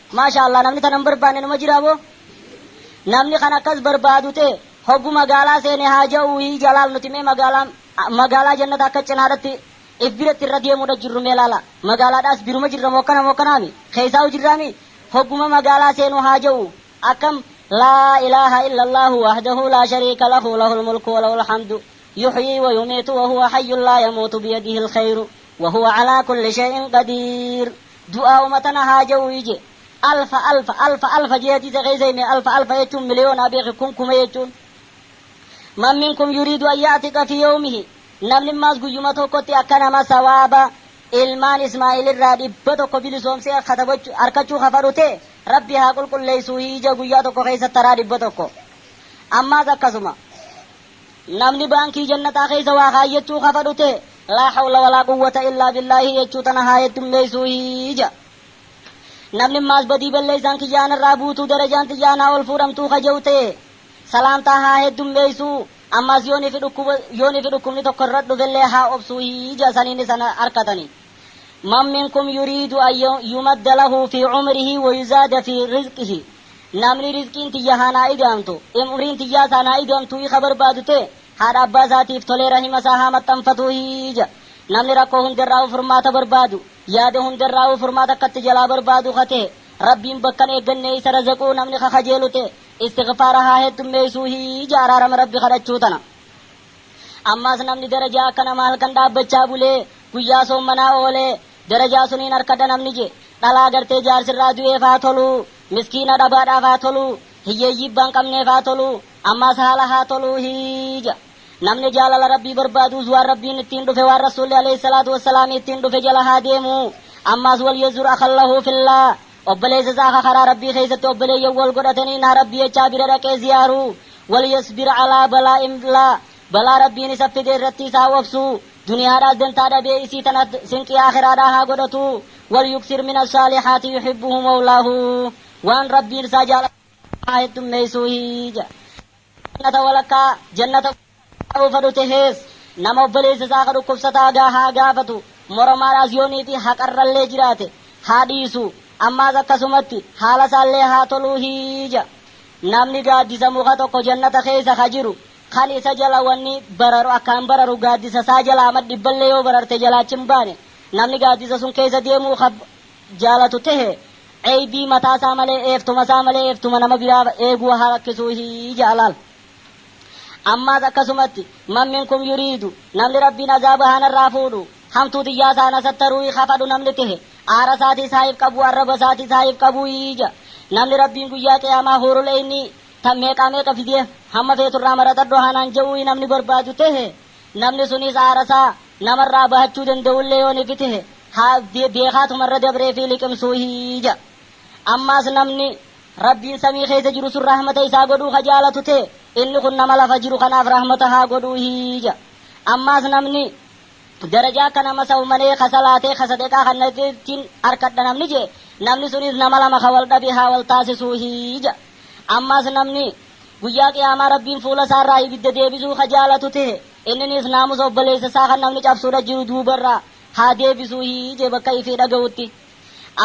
Maasha Allah namni tana hin barbaanne numa jiraa moo? Namni kan akkas barbaadu ta'e hoggu magaalaa seene haa ja'uu hii jalaal nuti mee magaalaan magaalaa jannata akka cinaadhatti if biratti irra deemuudha jirru mee laala magaalaadhaas biruma jirra moo akkana moo akkanaami keessaa'u jirraami hogguma magaalaa seenu haa ja'u akkam laa ilaaha illallaahu wahdahu laa shariika lahu lahul mulku wa lahul hamdu yuhyii wa yumiitu wa huwa hayyun laa yamuutu biyadihi alkhayru wa huwa alaa kulli shay'in qadiir Du'aa'uma tana haa ja'u'ii je'e. Alfa alfa, alfa alfa je'ee hadiisa keessa hime, alfa alfa jechuun miliyoonaa beeki, kun kuma jechuun. Man minkum yuriidu an ya'tiqa fii yawmihi, namni maas guyyuma tokkotti akka nama sawaaba ilmaan Ismaa'il irraa dhibba tokko bilisoomsee katabachu, arkachuu ka fadhu ta'e, Rabbi haa qulqulleeysuuhii je'e guyyaa tokko keessa taraa dhibba tokko. Ammaas akkasuma. Namni baankii jannataa keessa waa kaayyachuu kafadhu ta'e, laa hawla walaa quwwata illaa billaahi jechuu tana haa heddummeeysuuhi ja'a. Namni ammaas badii balleeysaan kiyyaa narraa buutuu darajaan tiyyaa naa ol fuudhamtuu ka je'u ta'e, salaamtaa haa heddummeeysuu, ammaas yoonii fi dhukkuba, yoonii fi dhukkubni tokko irra dhufellee haa obsuuhi ja'a saniin isa na arkatanii. Man minkum yuriidu an yumadda lahu fii umrihi wa yuzaada fii rizqihi. Namni rizqiin tiyya haa naa ida'amtu, umriin tiyyaas haa naa ida'amtuuhii ka barbaadu ta'e, haadha abbaa isaatiif tolee rahima isaa haa maxxanfatuuhii ja. Namni rakkoo hunda irraahuu furmaata barbaadu, yaada hunda irraahuu furmaata akka itti jalaa barbaadu ka ta'e, Rabbiin bakka hin eeggannee isa razaquu namni ka kajeelu ta'e, istighfaara haa heddummeeysuuhii ja araarama Rabbi kadhachuu tana. Ammaas namni darajaa akka nama halkan dhaabbachaa bulee, guyyaa soommanaa oolee, Darajaa suniin arkadha namni je, dhalaa gartee jaarsi irraa du'eef haa tolu, miskiina dhabaadhaaf haa tolu, hiyyeeyyii ibbaa hin qabneef haa tolu, ammaas haala haa tolu hi ja. Namni jaalala Rabbii barbaaduus waan Rabbiin ittiin dhufe waan Rasuulli aleyh salaatu wassalaami ittiin dhufe jala haa deemu. Ammaas walyazzur akhan lahu fillaah. Obboleessa isaa ka karaa Rabbii keessatti obboleeyyan wal godhataniin haa Rabbii jechaa bira dhaqee ziyaaru. Walyasbir alaa balaa'in la Balaa Rabbiin isaf fide irratti isa haa obsu, duniyaadhaas dantaa dhabee isii tana sinqii aakhiraadhaa haa godhatu. Walyuksir min assaalihaati yuhibbuhu mawlaahu. Waan Rabbiin isaa jaalatu irraa haa heddummeeysuuhi. Namni jannata walakkaa jannata guutuu irraa haa fedhu tahees, nama obboleeysa isaa ka dhukkubsataa gaa haa gaafatu, moromaadhaas yoo niiti haqarrallee jiraate haa dhiisu, ammaas akkasumatti haala isaallee haa toluuhi. Namni gaaddisa muka tokko jannata keeysa ka jiru Kan isa jala wanni bararu akkaan bararu gaaddisa isaa jalaa ma dhibballee yoo bararte jalaa achi hin baane. Namni gaaddisa sun keessa deemuu ka jaalatu tehe eybii mataa isaa malee eeftuma isaa malee eeftuma nama biraa eeguu haa rakkisuu hii ja'a laal. Ammaas akkasumatti man minkum yuriidu namni Rabbiin azaaba haa narraa fuudhu hamtuu tiyyaa isaa na sattaruu'i ka fadhu namni tehe aara isaatiis haa ifqabuu arraba isaatiis haa ifqabuu'i ja'a. Namni Rabbiin guyyaa qiyaamaa huurul eeynii Tan meeqaa meeqa fidee hamma feetu irraa maratadhu haa naan je'u'ii namni barbaadu tehe, namni suniis aarasaa namarraa bahachuu danda'ullee yoo ni fitehe, haa beekhaatuma irra dabreefii liqimsuuhi je'a. Ammaas namni Rabbiin samii keessa jiru sun rahmata isaa godhuu ka jaalatu tehe, inni kun nama lafa jiru kanaaf rahmata haa godhuuhi je'a. Ammaas namni Darajaa akka nama saw manee ka salaatee ka sadeqaa kannateettin arkadha namni je'e namni suniis nama lama ka wal dhabe haa wal taasisuuhi ja'a. Ammaas namni Guyyaa Qiyaamaa Rabbiin fuula isaa irraa ibidda deebisuu ka jaalatu tehe inniniis naamusa obboleeysa isaa kan namni cabsuudha jiru duuba irraa haa deebisuuhi je'e bakka ifii dhagawutti.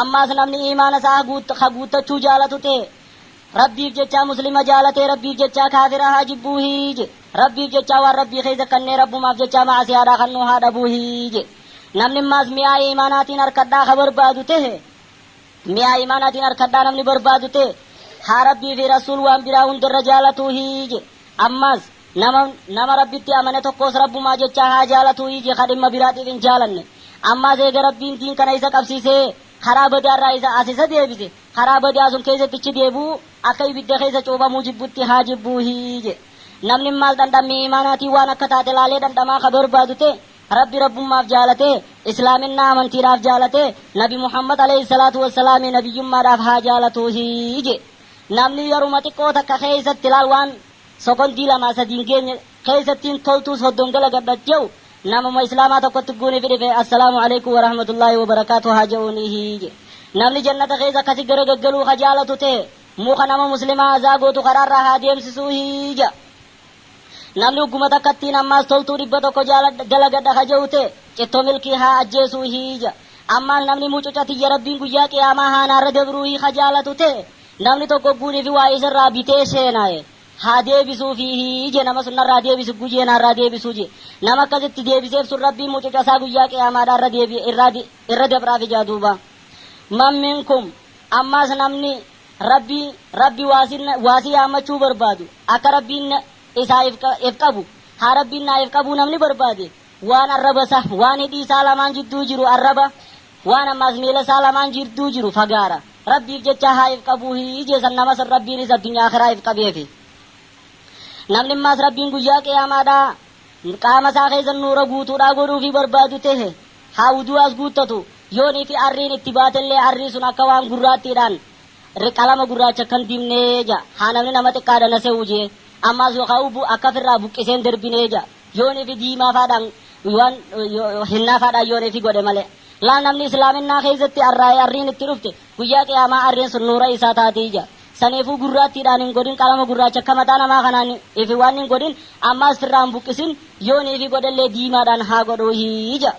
Ammaas namni iimaana isaa ka guuttachuu jaalatu tehe Rabbiif jechaa muslima jaalatee Rabbiif jechaa kaafira haa jibbuu hii je Rabbiif jechaa waan Rabbii keessa kannee Rabbumaaf jechaa ma'asiyaadhaa kannuu haa dhabuu hii je Namni maas mi'aa iimaanaatiin arkadhaa ka barbaadu tehe mi'aa iimaanaatiin arkadhaa namni barbaadu tehe haa Rabbii fi Rasuul waan biraa hundarra jaalatuu hii je Ammaas nama nama Rabbitti amane tokkoos Rabbumaa jechaa haa jaalatuu hii je ka dhimma biraatiif hin jaalanne Ammaas eega Rabbiin diin kana isa qabsiisee karaa badaarraa isa as isa deebise Karaa badaa sun keessatti icci deebi'uu akka ibidda keessa cuuphamuu jibbutti haa jibbuu hi je. Namni maal dhandhammii iimaanaatii waan akka taate laalee dhandhamaa ka barbaadu ta'e, Rabbi Rabbummaaf jaalatee, Islaaminnaa amantiidhaaf jaalatee, Nabi Muhammad aleyh salaatu wa salaami nabiyyummaadhaaf haa jaalatuu hi je. Namni yeruma xiqqoo takka keessatti laal waan sokondii lamaa sadii hin geenye, keeysattiin toltuus hoddon galagadha je'u namuma islaamaa tokkotti guunifi dhife assalaamu aleykum warahmatullaahi wabarakaatuh haa je'uuniihi je'e namni jannata keeysa akkasi garagaggaluu ka jaalatu tahe muka nama muslimaa azaa gootu karaarraa haa deemsisuuhi ja'a namni hogguma takkattiin ammaas toltuu dhibba tokko jaaladha dalagadha ka je'u tahe cittoo milkii haa ajjeesuuhi ja'a ammaas namni mucuca tiyya rabbiin guyyaa qiyaamaa haa naarra dabruuhi ka jaalatu tahe namni tokko guunifi waa isarraa bitee seenaa'e haa deebisuu fiihi je nama sun narraa deebisi gu je naarraa deebisuu je nama akkas itti deebiseef sun rabbiin mucuca isaa guyyaa qiyaamaadhaa irra deebi irraa di irra dabraafi jaa duuba man minkum ammaas namni rabbii rabbi waasi waasi yaammachuu barbaadu akka rabbiin na isaa if qa if qabu haa rabbiin naa if qabuu namni barbaade waan arraba isaa waan hidhii isaa lamaan jidduu jiru arraba Waan ammaas miila isaa lamaan jidduu jiru fagaara Rabbiif jecha haa if qabuu hin ijeesan nama san Rabbiinis addunyaa akhiraa if qabeefi. Namni ammaas Rabbiin guyyaa qiyaamaadhaa qaama isaa keessa nuura guutuudhaa godhuufii barbaadu tehe haa wuduu'aas guuttatu, yoonii fi arriin itti baatellee arrii sun akka waan gurraattiidhaan ri qalama gurraacha akkan dibnee ja'a, haa namni nama xiqqaadha na se'uu je'e, ammaas yookaa ubu akka ifirraa buqqiseen derbinee ja'a. Yoonii fi diimaa faadhaan waan hennaa faadhaan yoonii fi godhe malee. Laal namni islaaminnaa keessatti arraa'ee arriin itti dhufte guyyaa qiyaamaa arriin sun nuura isaa taati ija. Saniifuu gurraattiidhaan hin godhin qalama gurraacha akka mataa namaa kanaan ifi waan hin godhin ammaas firraa hin buqqisin yoonii fi godhellee diimaadhaan haa godhuuhi ija.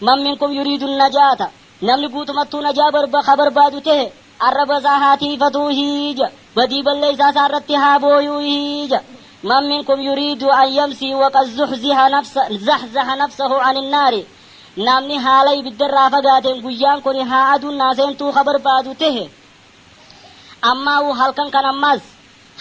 Man minkum yuriidu najaata. Namni guutumattuu najaa barba ka barbaadu tehe, arraba isaa haa tiiyfatuu hiija, badii balleeysaa isaa irratti haa booyuu hiija. Man minkum yuriidu an yamsii wa qad zuhziha nafsa zahzaha nafsahu an innaari Namni haala ibidda irraa fagaateen guyyaan kuni haa aduun naa seentuu ka barbaadu tehe, ammaahuu halkan kan ammaas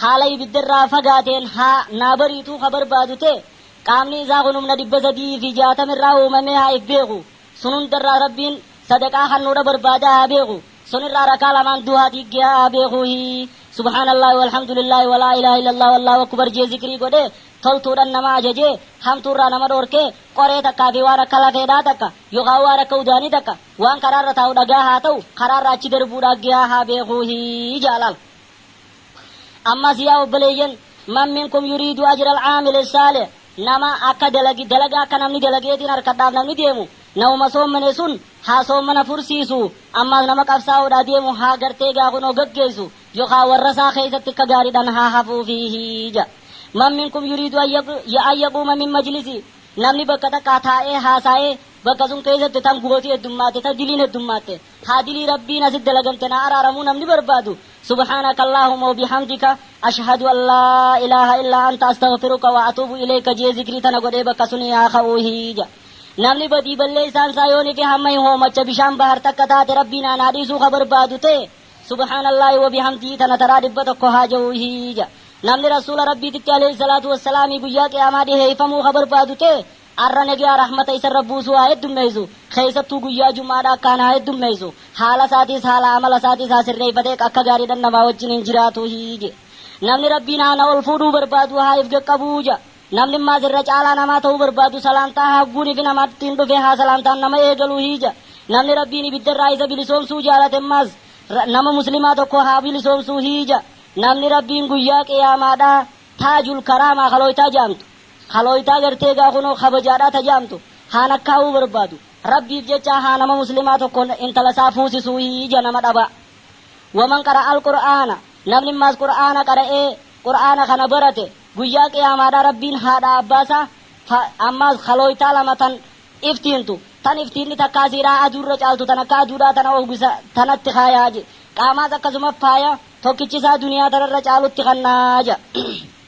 haala ibidda irraa fagaateen haa naa bariituu ka barbaadu tehe, qaamni isaa kun humna 360 irraa uumamee haa if beeku, Sun hunda irraa Rabbiin sadaqaa kannuudha barbaada haa beeku. Sun irraa rakaa lamaan duhaa diiggiha haa beeku hi. Subhaanallaahi walhamdulillaahi wa laa ilaaha illallaahu wallaahu akkubar jee zikrii godhee toltuudhan nama ajajee hamtuu irraa nama dhoorkee qoree takkaa fi waan akka lafeedhaa takka yokaa waan akka udaanii takka waan karaa irra taa'u dhagaa haa ta'u karaa irra achi darbuu dhaaggihaa haa beekuu hi ja'a laal. Ammas yaa obboleeyyan man minkum yuriidu ajra alcaamili saalih Nama akka dalagi dalaga akka namni dalageetiin arkadhaaf namni deemu namuma soommane sun haa soommana fursiisu ammaas nama qabsaa'uudhaa deemu haa gartee gaa kunoo gaggeessu yokaa warrasaa keessatti akka gaariidhan haa hafuufiihi ja man minkum yuriidu an yaq ya an yaquuma min majlisi namni bakka takkaa taa'ee haasaa'ee bakka sun keessatti tan gooti heddummaatte tan diliin heddummaatte Haa dilii rabbiin asit dalagamte naa araaramuu namni barbaadu subhaanaka allaahuma wa bihamdika ashhadu an laa ilaaha illaa anta astaghfiruka wa atuubu ileeyka je'ee zikrii tana godhee bakka sunii haa ka'uu hii ja'a namni badii balleeysaan isaa yoo nike hamma hin hoomacha bishaan bahar takka taate rabbiin aan haa dhiisuu ka barbaadu ta'e subhaanallaahi wa bihamdihi tana taraa dhibba tokko haa ja'uu hii ja'a namni rasuula rabbiititti aleeyhi salaatu wassalaamii guyyaa qiyaamaa dhiheeyfamuu ka barbaadu ta'e Arra nageya rahmata isarra buusu haa heddummeysu kheeysattuu guyyaa jum'aadha akkaan haa heddummeysu haala isaatiis haala amala isaatiis haa sirreeyfatee akka gaariidhan namaa wajjin hin jiraatu hiije namni rabbiin haa na ol fuudhuu barbaadu haa if gaqqabuu ja namni mmaas irra caalaa namaa ta'uu barbaadu salaamtaa haagguun ifi namattiin dhufe haa salaamtaan nama eegalu hiija namni rabbiin ibiddarraa isa bilisoomsuu jaalate mmaas ra nama muslimaa tokko haa bilisoomsuu hiija namni rabbiin guyyaa qiyaamaadha taajul karaamaa khalooytaa ja'amtu Khalooytaa gartee egaa kunoo kabajaadhaa ta jaamtu haa lakkaawuu barbaadu rabbiif jechaa haa nama muslimaa tokko intala isaa fuusisuu hii ija nama dhabaa waman qara'al qur'aana namni maas qur'aana qara'ee qur'aana kana barate guyyaa qiyaamaadhaa rabbiin haadhaa abbaa isaa fa ammaas khalooytaa lama tan iftiintu tan iftiinni takkaa siidhaa aduu irra caaltu tan akka aduudhaa tana ohgisa tanatti kaayaa je qaamaas akkasuma faaya tokkichi isaa duniyaa tanarra caalutti kannaa ja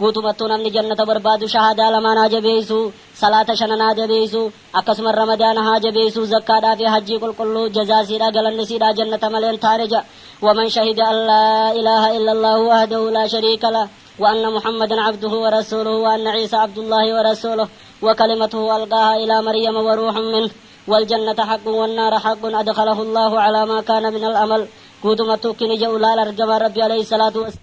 Guutumattuu namni jannata barbaadu shahaadaa lamaan haa jabeeysu, salaata shanan haa jabeeysu, akkasuma ramadaana haa jabeeysu, zakkaadhaa fi hajjii qulqulluu, jazaa isiidhaa galanni isiidhaa jannata malee hin taane ja'a. Waman shahida an laa ilaaha illa Allaahu wahdahu laa shariika lah, wa anna Muhammadan abduhu wa rasuuluhu, wa anna Iisaa abdullaahi wa rasuuluh, wa kalimatuhu alqaahaa ilaa Maryama wa ruuhun minh, wal jannata haqqun wan naara haqqun adkhalahu Allaahu calaa maa kaana minal amal. Guutumattuu kini ja'u laal argamaan Rabbii aleyhi salaatu was.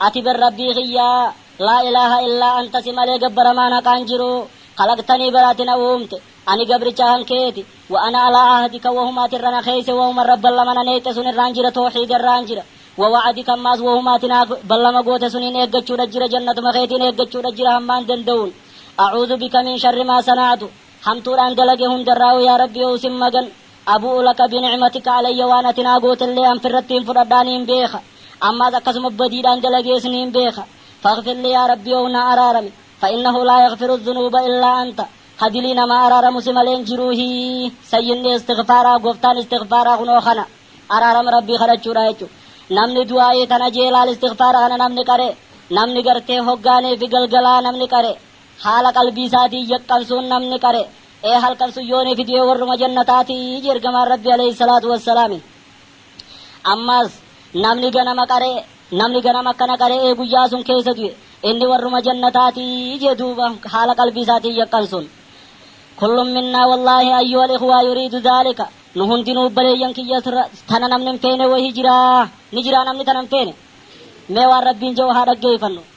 Ati bar Rabbii kiyya, laa ilaaha illaa anta si malee gabbaramaan haqaan jiru, khalaqtanii bar ati na uumte, ani gabricha kan keeti, wa ana alaa ahdika wahuma ati irra na keeyse wahuma Rabban lama na neeyxe sun irraan jira towhiida irraan jira, wa wa'adika ammaas wahuma ati naaf ballama goote suniin eeggachuudha jira jannatuma keetiin eeggachuudha jira hammaan danda'uun. A'uuzu bika min sharri maa sana'tu, hamtuudhaan dalage hundarraahuu yaa Rabbi oo'u sin magan, Abu'u laka bini'matika alayya waan ati naa gootellee an firrattiin fudhadhaa niin beeka. Ammaas akkasuma badiidhaan dalagees niin beeka. Faghfir lii yaa Rabbii ow naa araarami. Fa innahu laa yaghfiru dhunuuba illaa anta. Ka dilii namaa araaramu si malee hin jiruuhii. Sayyidni istighfaaraa, goftaan istighfaaraa kunoo kana. Araarama Rabbii kadhachuudha jechu. Namni du'aa'ii tana jee laal istighfaara kana namni qare, namni gartee hoggaaniifi galgalaa namni qare, haala qalbii isaatiin yaqqansuun namni qare, Ee halkan sun yoo ni fidee warruma jannataati iji ergamaan rabbi aleyhi salaatu wassalaami ammaas namni ganama qaree namni ganama akkana qare'ee guyyaa sun keessa du'e inni warruma jannataati ije duuba haala qalbii isaatiin yaqqan sun kullum minnaa wallaahi ayyuhal ikhwaa yuriidu dhaalika nu hundinuu baleeyyan kiyya tana namni hin feene wahii jiraa ni jiraa namni tana hin feene mee waan rabbiin jedhu haa dhaggeeyfannu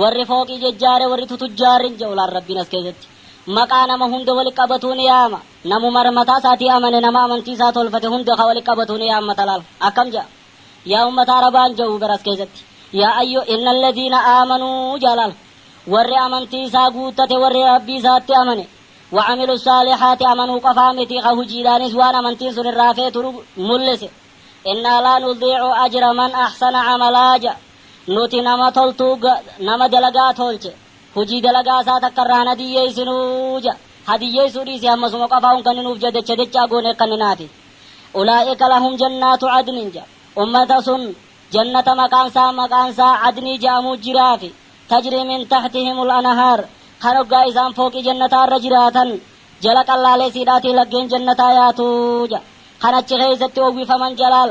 Warri fooqii jejjaare warri tutujjaarrin ja'u laal Rabbiin as keessatti maqaa nama hunda wali qabatuu ni yaama. Namumar mataa isaatii amane nama amantii isaa tolfate hunda ka wali qabatuu ni yaammata laal. Akkam ja'a? Yaa ummata Arabaan ja'u bar as keessatti. Yaa ayyu innal ladiina aamanuu ja'a laal. Warri amantii isaa guuttate warri Rabbii isaatti amane. Wa'amilu saalihaati amanuu qofaa miti ka hujiidhaanis waan amantiin sun irraa feetu mul'ise. Innaa laa nudiicu ajra man ahsana amalaa ja'a. Nuti nama toltuu ga, nama dalagaa toolche, hujii dalagaa isaa takka irraa hin hadiyyeeysinu ja. Hadiyyeeysuu dhiisi hammasuma qofaa un kanni nuuf ja dacha dachaa goonee kanninaafi. Ulaa'ika lahum jannaatu cadnin ja. Ummata sun jannata maqaan isaa maqaan isaa cadnii ja'amuu jiraafi. Tajrii min tahtihimul anahaar. Kan hoggaa isaan fooqii jannataa irra jiraatan jala qallaaleeysiidhaatii laggeen jannataa yaatu ja. Kan achi keeysatti owwifaman jalaal.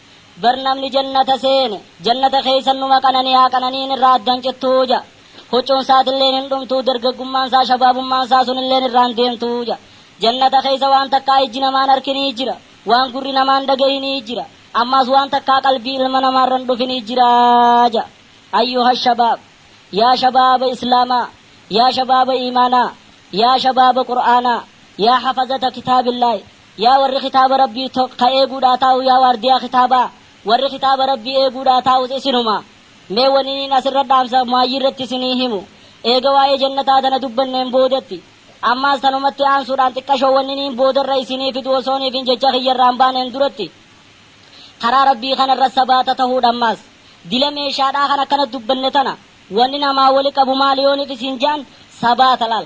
Bar namni jannata seene, jannata keessa numa qanani'a, qananiin irraa addan cittu ja. Huccuun saatilleen hin dhumtu, dargaggummaan saa, shabaabummaan saa sunilleen irraa hin deemtu ja. Jannata keessa waan takkaa ijji namaa hin arkin ni jira, waan gurri namaa hin dhagahin ni jira, ammaas waan takkaa qalbii ilma namaa irra hin dhufin ni jira ja. Ayyuha shabaab! Yaa shabaaba Islaamaa! Yaa shabaaba iimaanaa! Yaa shabaaba Qur'aanaa! Yaa hafazata kitaabillaahi! Yaa warri kitaaba Rabbii to, ka eeguudhaa taa'u yaa waardiyaa kitaabaa, warri kitaaba Rabbii eeguudhaa taa'us isinuma. Mee waniniin as irra dhaamsa maayyii irratti isinii himu, eega waa'ee jannataa tana dubbanneen boodatti. Ammaas tanumatti aansuudhaan xiqqashoo waniniin booda irra isinii fidu osoon ifin jecha kiyya irraa hin baaneen duratti, karaa Rabbii kana irra sabaata tahuudha ammaas. Dila meeshaadhaa kan akkanatti dubbanne tana, wanni namaa wali qabu maali yoon if isin jaan, sabaata laal.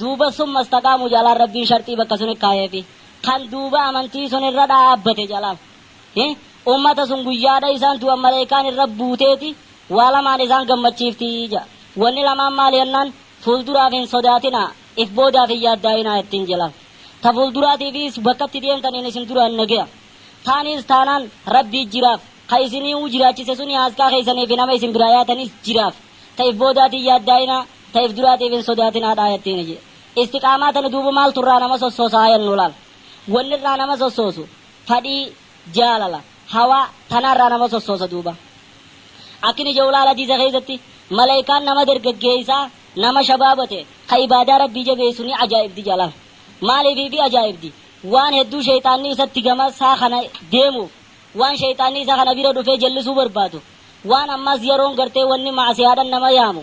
Duuba summa istaqaamu jalaan Rabbiin sharxii bakka suni kaayeefi. Kan duuba amantii sun irra dhaabbate jalaan. Hi, ummata sun guyyaadha isaan du'an maleeykaan irra buuteeti waa lamaan isaan gammachiifti ja'a. Wanni lamaan maali jennaan, fuulduraaf hin sodaatinaa, if boodaaf hin yaaddaayinaa jettiin jalaan. Ta fuulduraatiifiis bakka itti deemtaniin isin duraan nageya. Taaniis taanaan Rabbii jiraaf. Ka isiniiuu jiraachise suni haaskaa keeysaniifi nama isin biraa yaatanis jiraaf. Ta if boodaatiin yaaddaayinaa. Ta'eef duraatiif hin sodaatinaadha ayattiini jee. Istiqaamaa tana duuba maaltu irraa nama sossoosa haa yannu laal. Wanni irraa nama sossoosu fadhii, jaalala, hawaa, tanaa irraa nama sossoosa duuba. Akkini je'u laal hadiisa keessatti malaykaan nama dargaggeeysaa nama shabaaba ta'e ka ibaadaa Rabbii jabeeysu ni ajaa'ibdi je'a laal. Maaliif ifii ajaa'ibdi? Waan hedduu sheyxaanni isatti gama isaa kana deemuuf, waan sheyxaanni isa kana bira dhufee jallisuu barbaadu, waan ammaas yaroon gartee wanni ma'asiyaadhan nama yaamu,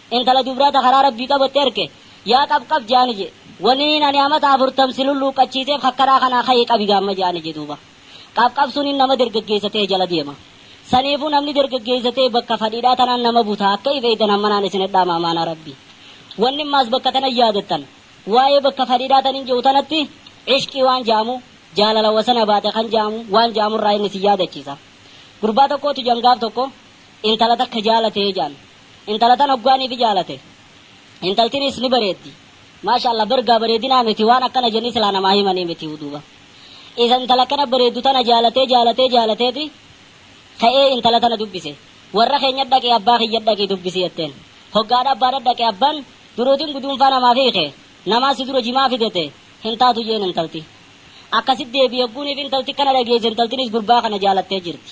intala dubraa ta karaa Rabbii qabatte arke, Yaa qab qab je'aani je, waniin ani amata afurtam si lulluuqqachiiseef ka karaa kanaa kaye qabi gaamma je'aani je duuba. Qab qab suniin nama dergaggeessa tahe jala deema. Saniifuu namni dergaggeessa tahe bakka fadhiidhaa tanaan nama buta akka if eeytan hammanaan isinit dhaama amaanaa Rabbii. Wanni maas bakka tana yaadattan, waa'ee bakka fadhiidhaa tanin je'u tanatti Ishqii waan je'amu, jaalala wasana baate kan je'amu, waan je'amurraa inni isin yaadachiisa. Gurbaa tokkootu je'an gaaf tokko intala takka jaalate je'an. Intala tan hoggaa nifi jaalate intaltinis ni bareeddi maashaallah bar gaa bareedinaa miti waan akkana jenni silaa namaa himanii miti duuba isa intala akkana bareeddu tana jaalatee jaalatee jaalateeti ka'ee intala tana dubbise warra keenya dhaqi abbaa kiyya dhaqi dubbisi jetteen hoggaadha abbaadha dhaqe abban duruutin guduunfaa namaaf hiike namaa si dura jimaa fidete hin taatu jeen intalti akkasit deebi hogguuniif intalti kana dhageesse intaltinis gurbaa kana jaalattee jirti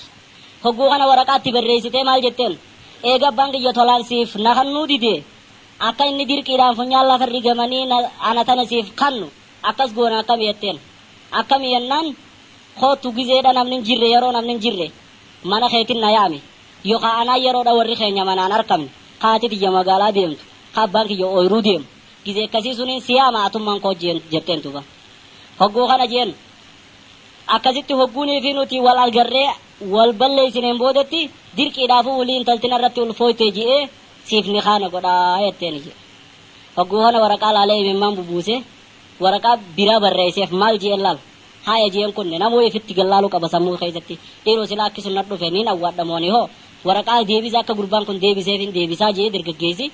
hogguu kana waraqaatti barreessitee maal jetteen Eega abbaan kiyya tolaan siif na kannuu dide, akka inni dirqiidhaan funyaan lafa irri gamanii na, ana tana siif kannu akkas goona akkami jetteen. Akkami jennaan, Koottu gizeedha namni hin jirre, yeroo namni hin jirre mana keetin na yaami. Yookaa anaa yeroodha warri keenya manaa hin arkamne, ka haati tiyya magaalaa deemtu, ka abbaan kiyya ooyruu deemu, gizee akkasii suniin si yaama atummaan koo jeen, jetteen duuba. Hogguu kana jeen, akkasitti hogguunii fi nuti wal argarree, wal balleessineen boodatti dirqiidhaafuu wly intalti narratti ulfooyte je'ee siif nikaa na godha jetteen je'e. Hogguu kana waraqaa laalee imimmaan bubuusee waraqaa biraa barreesseef maal je'een laal haaya je'een kunne namuu ifitti gad laaluu qaba sammuu keessatti dhiiroo silaa akki sun nadhufe niin awwaadha moo ani hoo waraqaa deebisa akka gurbaan kun deebiseefin deebisaa je'ee dargaggeessi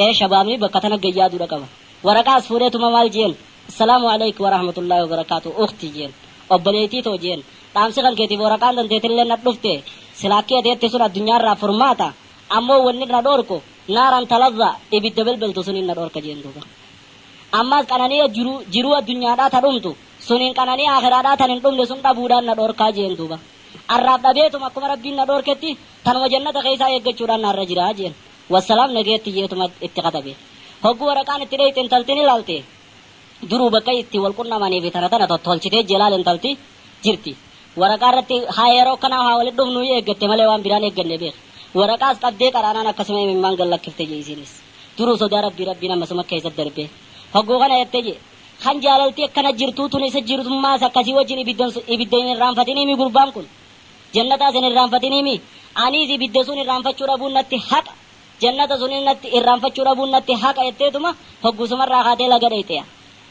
ee shabaabni bakka tana gad yaaduu dha qaba. Waraqaa as fuudheetuma maal je'een Assalaamu aleyk warahmatullaahi wabarakaatuh ukhti je'een obboleeytii too je'een Dhaamsi kan keetiif woraqaan dandeetilleen nat dhufte silaa akki ati jette sun addunyaarraa furmaata ammoo wanni na dhoorku naaran talazza ibidda belbeltu suniin na dhoorka jeen duuba ammaas qananiya jiru jiruu addunyaadhaa ta dhumtu suniin qananiya aakiraadhaa tan hin dhumne sun dhabuudhaan na dhoorkaa jeen duuba arraaf dhabeetuma akkuma rabbiin na dhoorketti tanuma jannata keeysaa eeggachuudhaan naarra jira jeen wassalaam nageetti jeetuma itti katabe hogguu waraqaan itti dheeyxe intaltiin ilaalte Duruu bakka itti wal qunnamanii fi tana tana tottolchitee jelaal intalti jirti. Waraqaa irratti haa yeroo akkanaa haa walitti dhufnuu eeggatte malee waan biraa hin eegganne beeki. Waraqaas qabdee qaraanaan akkasuma imimmaan gad lakkifte je isiinis. Duruu sodaa Rabbii Rabbiin ammasumas keessa darbee. Hogguu kana jette je. Kan jaalalti akkana jirtuu tun isa jirtummaas akkasii wajjin ibiddan sun ibidda hin irraanfatinii mii gurbaan kun? Jannataas hin irraanfatinii mii? Aniis ibidda sun irraanfachuu dhabuun natti haqa. Jannata suniin natti irraanfachuu dhabuun natti haqa jetteetuma hogguusumarraa kaatee laga dheyxe.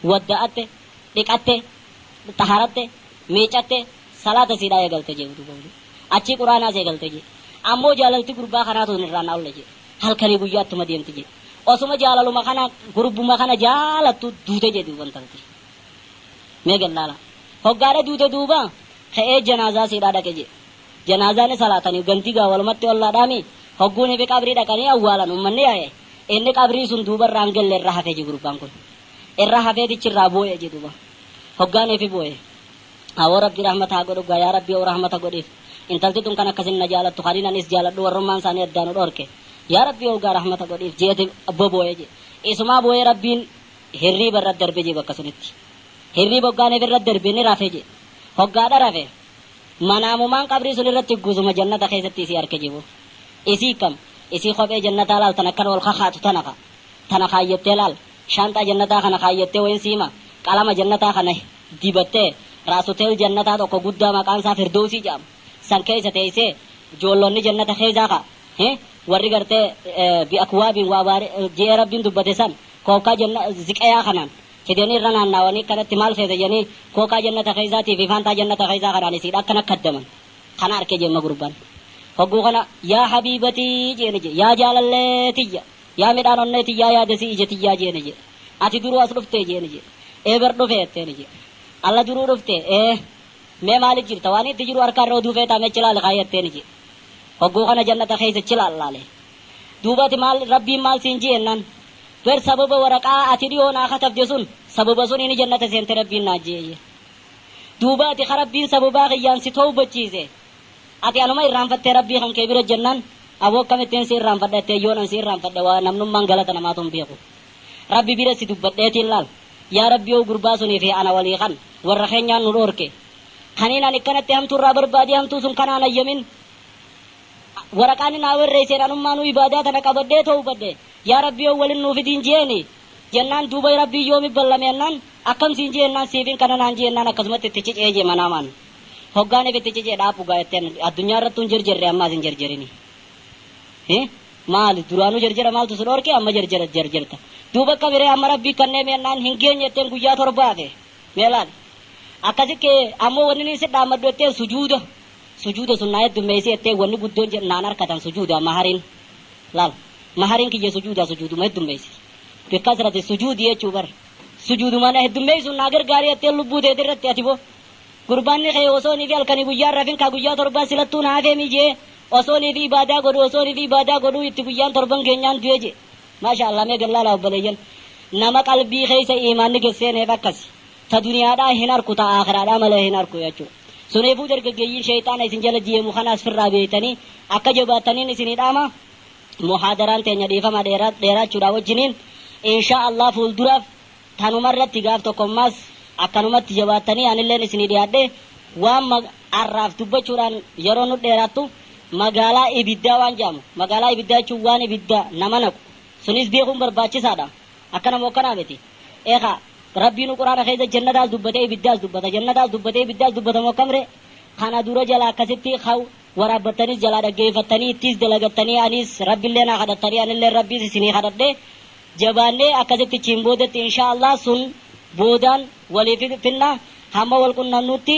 Wadda'atte, dhiqatte, xaharatte, miicatte, salaata isiidhaa eegalte je'e duuba wly. Achii qur'aanaas eegalte je'e. Ammoo jaalalti gurbaa kanaa tun irraa na olle je'e. Halkanii guyyaa ittuma deemti je'e. Osuma jaalaluma kana gurbuma kana jaalattu duute je'e duuba intalti. Mee gad laalaa. Hoggaadha duute duuba ka'ee janaazaa isiidhaa dhaqe je'e. Janaazaa ni salaatani, gandi gaa walumatti ollaadhaami, hogguu nibi qabrii dhaqanii awwaalan ummanni yaa'e, inni qabrii sun duuba irraa hin gelle irra hafe je gurbaan kun. Irra hafeetichi irraa booye je duuba. Hoggaa nifi booye. Awoo Rabbi rahmata haa godhu gaa yaa Rabbi oo rahmata godhiif. Intalti tun kan akkasin na jaalattu kaniin ani is jaaladhu warrummaan isaanii addaa nu dhoorke. Yaa Rabbi oo gaa rahmata godhiif jeeti bobooye je. Isumaa booyee Rabbiin hirriiba irra darbe je bakka sunitti. Hirriiba hoggaa nifi irra darbe ni rafe je. Hoggaadha rafe. manaamumaan qabrii sun irratti hgguzuma jannata keessatti isii arke jibu. Isii kkam? Isii kophee jannataa laaltan akkana ol kakaatu tana ka. Tana kaayyattee laal. Shaanxaa jannataa kana kaayyattee wayin sii hima? Qalama jannataa kana dibattee raasuteel jannataa tokko guddaa maqaan isaa firdoowsii jedhamu san keessa teeysee joollonni jannata keessaa ka hi warri gartee bi'akwaabin waa baari je'ee rabbiin dubbate san kookkaa janna ziqayaa kanaan fidanii irra naannaawanii akkanatti maal feeta jedhanii kookaa jannata keessaatii fi faantaa jannata keessaa kanaan isiidha akkana kaddaman kana arke jemma gurbaan hogguu kana yaa habiibatii jeeni je yaa jaalallee tiyya yaa midhaan onnee tiyyaa yaadesii ija tiyyaa jeeni je ati duruu as dhuftee jeeni je ee bar dhufee jetteeni je alla duruu dhuftee ee mee maali jirta waan itti jiru harkaa irra oduu feetaa mee chilaali kaayatteeni je hogguu kana jannata keessa chilaal laale Duuba ati maal, Rabbiin maal siin jee jennaan, Ber sababa waraqaa ati dhihoo naa katabde sun, sababa suniini jannata seente Rabbiin naan jee jee. Duuba ati ka Rabbiin sababaa kiyyaan si towbachiise, ati anuma irraanfattee Rabbii kan kee bira jennaan, Aboo akkamittiin si irraanfadha jetteen, yoon an si irraanfadhe waa namnummaan galata namaatu hin beeku. Rabbi bira si dubbadheetiin laal, Yaa Rabbi hoo gurbaa sunii fi ana walii kan warra keenyaan nu dhoorke, kaniin ani akkanatti hamtuu irraa barbaadee hamtuu sun kanaan hayyamin, Waraqaa inni naa werreyseen anummaanuu ibaadaa tana qabadhee towbadhe. Yaa Rabbii yoon walin nuu fidiin je'eeni. Jennaan duuba Rabbiin yoomi ballame jennaan, akkam siin je'e jennaan siifin kana naan je'e jennaan akkasumatti itti cicee je'e manaamaan. Hoggaan if itti cicee dhaabbu gaa jettee an addunyaa irrattuu hin jerjerre ammaas hin jerjerini. Hi? Maali duraanuu jerjera maaltu si dhoorke amma jerjera jerjerta. Duuba akkami ree amma Rabbii kanneemi jennaan hin geenye jetteen guyyaa torba hafe. Mee laali. Akkasi ka'ee ammoo wanni niin si dhaammadhu jetteen sujuuda. Sujuuda sunnaa heddummeeysi jettee wanni guddoon jedhu naan arkatan sujuuda mahariin laal mahariin kiyya sujuuda sujuuduma heddummeeysi bi kasrati sujuudi jechuu bar sujuuduma na heddummeeysuun naa gargaari jettee lubbuu teeti irratti ati boo gurbaanni kee osoo nifi halkanii guyyaa hin rafin kaa guyyaa torbaa silattuu na hafeemii je'ee osoo nifi ibaadaa godhu osoo nifi ibaadaa godhuu itti guyyaan torban keenyaan du'e je'e maashaa allaah mee gallaalaa obboleeyyan nama qalbii keeysa iimaanni gesseeneef akkasi ta duniyaadhaa hin arku ta aakhiraadhaa malee hin arku jechuu Suneefuu dargaggeeyyiin sheyxaana isin jala jiiemu kanaas firraa beeytanii akka jabaattaniin isinii dhaama. Muhaadaraan teenya dhiifama dheeraachuudhaa wajjiniin inshaa Allaah fuulduraaf tanuma irratti gaaf tokko ammaas akkanumatti jabaattanii anilleen isinii dhiyaadhee waan arraaf dubbachuudhaan yeroon nu dheeraattu magaalaa ibiddaa waan je'amu magaalaa ibiddaa jechuun waan ibidda nama naqu sunis beekuun barbaachisaadha akkana moo akkanaa miti eekaa Rabbiinu qur'aana keessa jannataas dubbate ibiddaas dubbata jannataas dubbate ibiddaas dubbatamu akkamre kana dura jala akkasitti ka waraabbattanis jalaa dhaggeeffattanii ittiis dalagattanii aniis rabbillee naa kadhattanii anilleen rabbiis isinii kadhadhe jabaannee akkasitti ichiin boodatti inshaa allaah sun boodaan waliif finna hamma wal qunnamnutti